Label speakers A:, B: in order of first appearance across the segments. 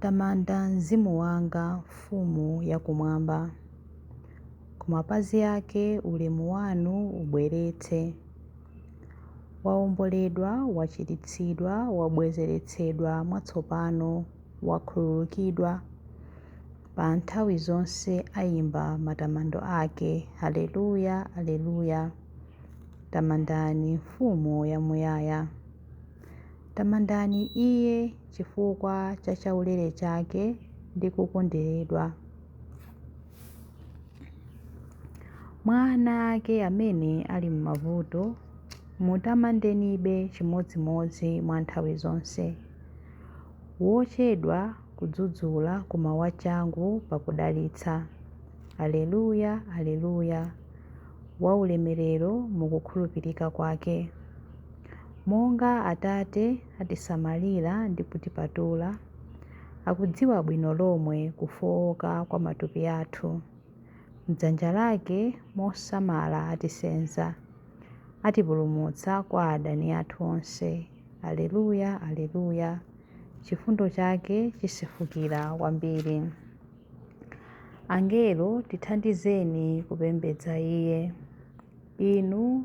A: Tamanda mzimu wanga Mfumu yakumwamba, Ku mapazi ake ulemu wanu ubweretse. Waomboledwa, wachiritsidwa, wabwezeretsedwa mwatsopano, wakhululukidwa, Pa nthawi zonse aimba matamando ake, Aleluya, Aleluya, Tamandani Mfumu yamuyaya. Tamandani Iye chifukwa cha chaulere chake ndi kukonderedwa. Mwa ana ake amene ali m'mavuto, mutamandenibe chimodzimodzi mwa nthawi zonse. Wochedwa kudzudzula koma wachangu pakudalitsa. Aleluya, Aleluya! Waulemerero mu kukhulupirika kwake. Monga Atate atisamalira ndi kutipatula, akudziwa bwino lomwe kufooka kwa matupi athu. M'dzanja lake mosamala atisenza, atipulumutsa kwa adani athu onse. Aleluya, Aleluya, Chifundo chake chisefukira kwambiri. Angelo, tithandizeni kupembedza Iye. Inu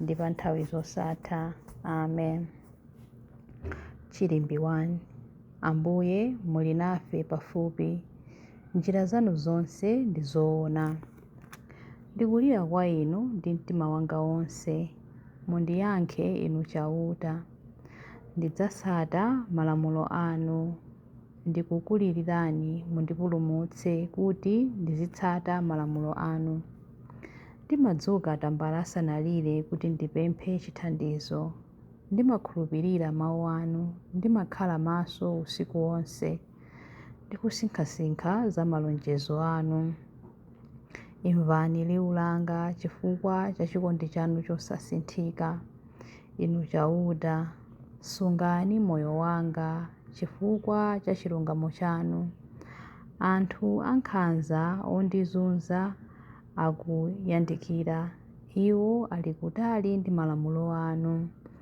A: ndi pa nthawi zosatha amen chilimbi 1 ambuye muli nafe pafupi njira zanu zonse ndi zoona ndikulira kwa inu ndi mtima wanga wonse mundiyankhe inu chauta ndidzasata malamulo anu Ndikukulilirani mundipulumutse kuti ndizitsata malamulo anu. Ndimadzuka tambala asanalire kuti ndipemphe chithandizo. Ndimakhulupirira mawu anu, ndimakhala maso usiku wonse ndi kusinkhasinkha za malonjezo anu. Imvani liwu langa chifukwa cha chikondi chanu chosasinthika. Inu Chauta, sungani moyo wanga chifukwa cha chilungamo chanu. Anthu ankhanza ondizunza akuyandikira, iwo ali kutali ndi malamulo anu.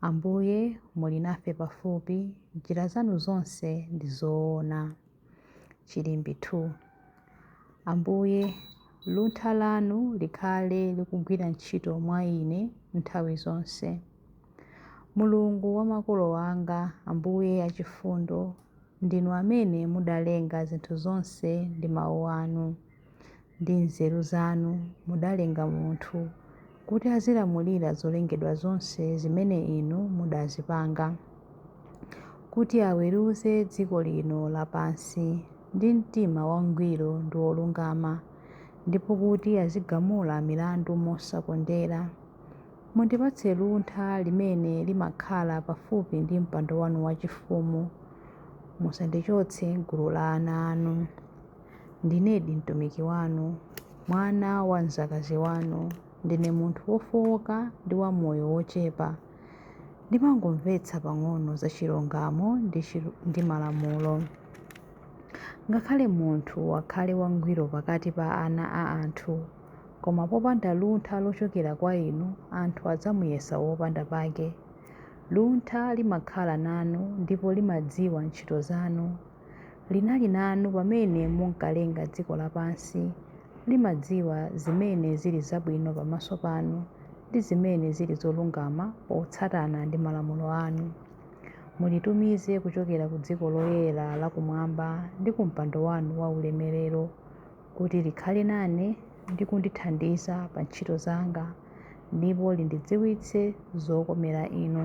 A: Ambuye, muli nafe pafupi, njira zanu zonse ndi zoona. Chilimbi 2. Ambuye, luntha lanu likhale likugwira ntchito mwa ine nthawi zonse. Mulungu wa makolo anga, Ambuye achifundo, ndinu amene mudalenga zinthu zonse ndi mawu anu. Ndi nzeru zanu mudalenga munthu, kuti azilamulira zolengedwa zonse zimene inu mudazipanga, kuti aweruze dziko lino lapansi ndi mtima wangwiro ndi wolungama, ndipo kuti azigamula milandu mosakondera. Mundipatse luntha limene limakhala pafupi ndi mpando wanu wachifumu. Musandichotse m'gulu la ana anu. Ndinedi mtumiki wanu, mwana wa mzakazi wanu. Ndine munthu wofowoka ndi wa moyo wochepa. Ndimangomvetsa pang'ono za chilungamo ndi malamulo. Ngakhale munthu akhale wangwiro pakati pa ana a anthu, koma popanda luntha lochokera kwa inu, anthu adzamuyesa wopanda pake. Luntha limakhala nanu ndipo limadziwa ntchito zanu. Linali nanu pamene munkalenga dziko lapansi. Limadziwa zimene zili zabwino pamaso panu ndi zimene zili zolungama potsatana ndi malamulo anu. Mulitumize kuchokera ku dziko loyera la kumwamba ndi ku mpando wanu wa ulemerero, kuti likhale nane ndi kundithandiza pa ntchito zanga, ndipo lindidziwitse zokomera inu.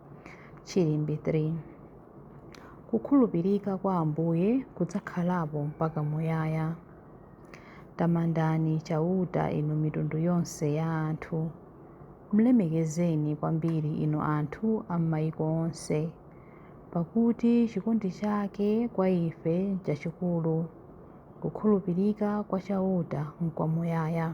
A: Chilimbi 3. Kukhulupirika kwa Ambuye kudzakhalapo mpaka muyaya. Tamandani Chauta inu mitundu yonse ya anthu. Mlemekezeni kwambiri inu anthu a m'maiko onse, pakuti chikondi chake kwa ife nchachikulu, kukhulupirika kwa Chauta nkwamuyaya.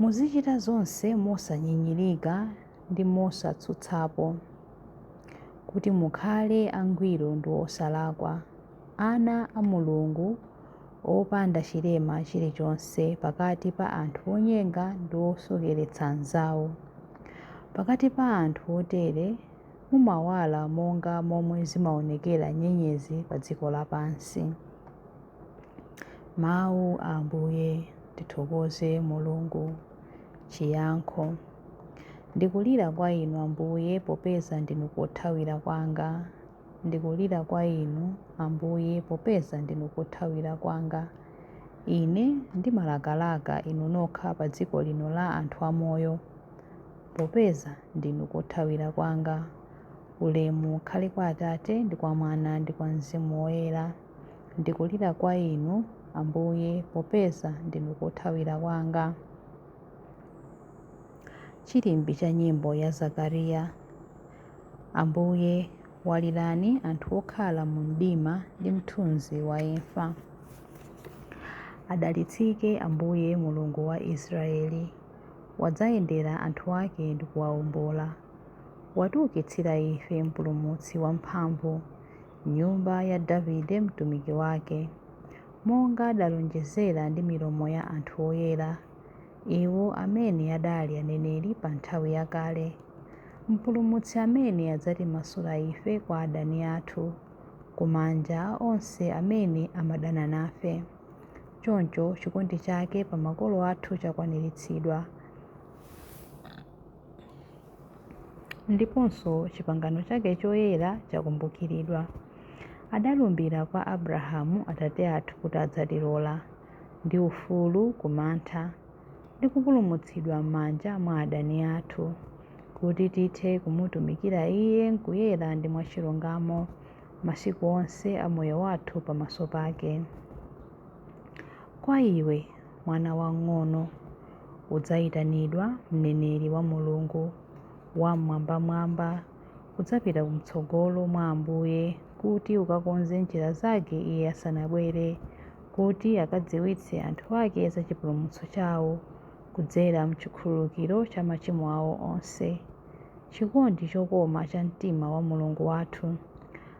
A: Muzichita zonse mosanyinyirika ndi mosatsutsapo, kuti mukhale angwiro ndi osalakwa, ana a Mulungu, opanda chilema chilichonse pakati pa anthu onyenga ndi osokeretsa anzawo. Pakati pa anthu otere mumawala monga momwe zimaonekera nyenyezi padziko lapansi. Mawu a Ambuye, tithokoze Mulungu. Chiyankho Ndikulira kwa Inu, Ambuye, popeza ndinu kothawira kwanga. Ndikulira kwa Inu, Ambuye, popeza ndinu kothawira kwanga. Ine ndimalakalaka Inu nokha pa dziko lino la anthu amoyo, popeza ndinu kothawira kwanga. Ulemu ukhale kwa Atate ndi kwa Mwana ndi kwa Mzimu Woyera. Ndikulira kwa Inu, Ambuye, popeza ndinu kothawira kwanga. Chilimbi cha nyimbo ya Zakariya. Ambuye, walirani anthu okhala mu mdima ndi mthunzi wa imfa. Adalitsike Ambuye Mulungu wa Israeli, wadzayendera anthu ake ndi kuwawombola. Watiukitsira ife mpulumutsi wamphamvu, m'nyumba ya Davide mtumiki wake, monga adalonjezera ndi milomo ya anthu oyera, iwo amene adali aneneri pa nthawi yakale, Mpulumutsi amene adzatimasula ife kwa adani athu, ku manja a onse amene amadana nafe. Choncho chikondi chake pa makolo athu chakwaniritsidwa. ndiponso chipangano chake choyera chakumbukiridwa. Adalumbira kwa Abrahamu atate athu kuti adzatilola, ndi ufulu ku mantha, ndi kupulumutsidwa m'manja mwa adani athu, kuti tithe kumutumikira Iye nkuyera ndi mwachilungamo masiku onse a moyo wathu pamaso pake. Kwa iwe, mwana wang'ono, udzayitanidwa mneneri wa Mulungu Wammwambamwamba, udzapita kumtsogolo mwa Ambuye kuti ukakonze njira Zake Iye asanabwere, kuti akadziwitse anthu Ake za chipulumutso chawo kudzera mchikhululukiro cha machimo awo onse. Chikondi chokoma cha mtima wa Mulungu wathu!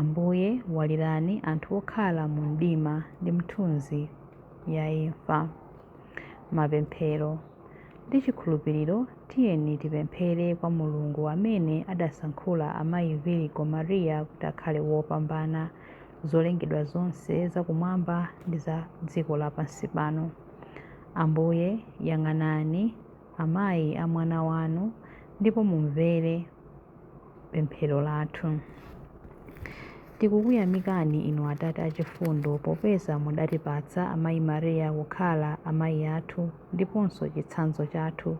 A: Ambuye, walirani anthu okhala mu mdima ndi mthunzi ya imfa. Mapemphero ndi chikhulupiriro tiyeni tipemphere kwa Mulungu amene adasankhula amayi Virgo Maria kuti akhale wopambana zolengedwa zonse za kumwamba ndi za dziko lapansi pano. Ambuye, yang'anani amayi a mwana wanu ndipo mumvere pemphero lathu. Tikukuyamikani inu Atate achifundo popeza mudatipatsa Amayi Maria kukhala amayi athu ndiponso chitsanzo chathu.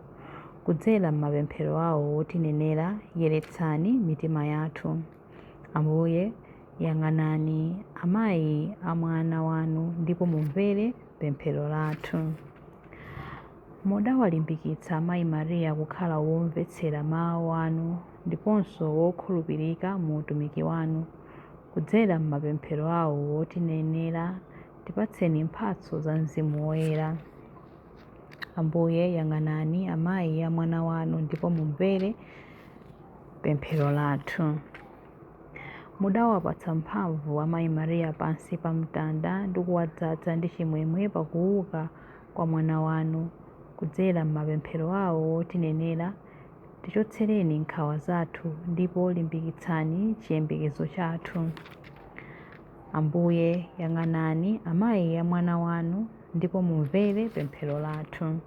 A: Kudzera m'mapemphero awo otinenera, yeretsani mitima yathu. Ambuye, yang'anani amayi a Mwana wanu ndipo mumvere pemphero lathu. Mudawalimbikitsa Amayi Maria kukhala womvetsera mawu anu ndiponso wokhulupirika mu utumiki wanu. Kudzera m'mapemphero awo otinenera, tipatseni mphatso za Mzimu Woyera. Ambuye, yang'anani amayi a mwana wanu ndipo mumvere pemphero lathu. Mudawapatsa mphamvu Amayi Maria pansi pa mtanda ndi kuwadzadza ndi chimwemwe pakuuka kwa mwana wanu kudzera m'mapemphero awo wotinenera, tichotsereni nkhawa zathu ndipo limbikitsani chiyembekezo chathu. Ambuye, yang'anani amayi a mwana wanu ndipo mumvere pemphero lathu.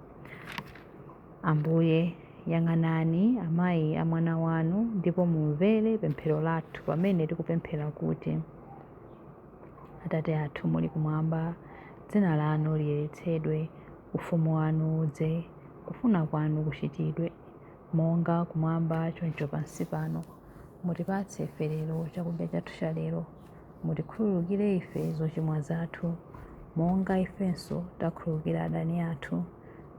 A: Ambuye, yang'anani amayi a mwana wanu ndipo mumvere pemphero lathu pamene tikupemphera kuti. Atate athu muli kumwamba, dzina lanu liyeretsedwe, ufumu wanu udze, kufuna kwanu kuchitidwe, monga kumwamba choncho pansi pano. Mutipatse ife lero chakudya chathu cha lero. Mutikhululukire ife zochimwa zathu, monga ifenso takhululukira adani athu.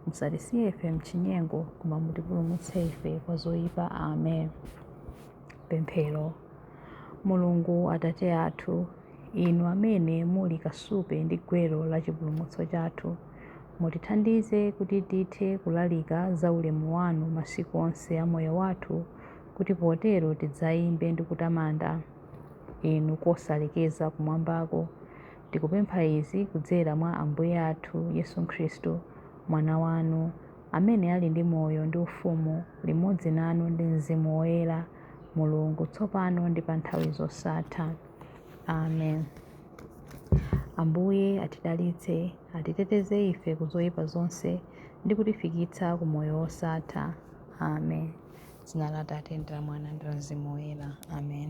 A: Musatisiye ife mchinyengo, koma mutipulumutse ife kwa zoyipa. Amen. Pemphero. Mulungu Atate athu, Inu amene muli kasupe ndi gwero la chipulumutso chathu, mutithandize kuti tithe kulalika za ulemu wanu masiku onse a moyo wathu, kuti potero tidzayimbe ndi kutamanda Inu kosalekeza kumwambako. Tikupempha izi kudzera mwa Ambuye athu Yesu Khristu, Mwana wanu. amene ali ndi moyo ndi ufumu limodzi nanu ndi Mzimu Woyera, Mulungu, tsopano ndi pa nthawi zosatha. Amen. Ambuye atidalitse, atiteteze ife ku zoyipa zonse ndi kutifikitsa ku moyo wosatha. Amen. Dzina la Atate ndi la Mwana ndi la Mzimu Woyera. Amen.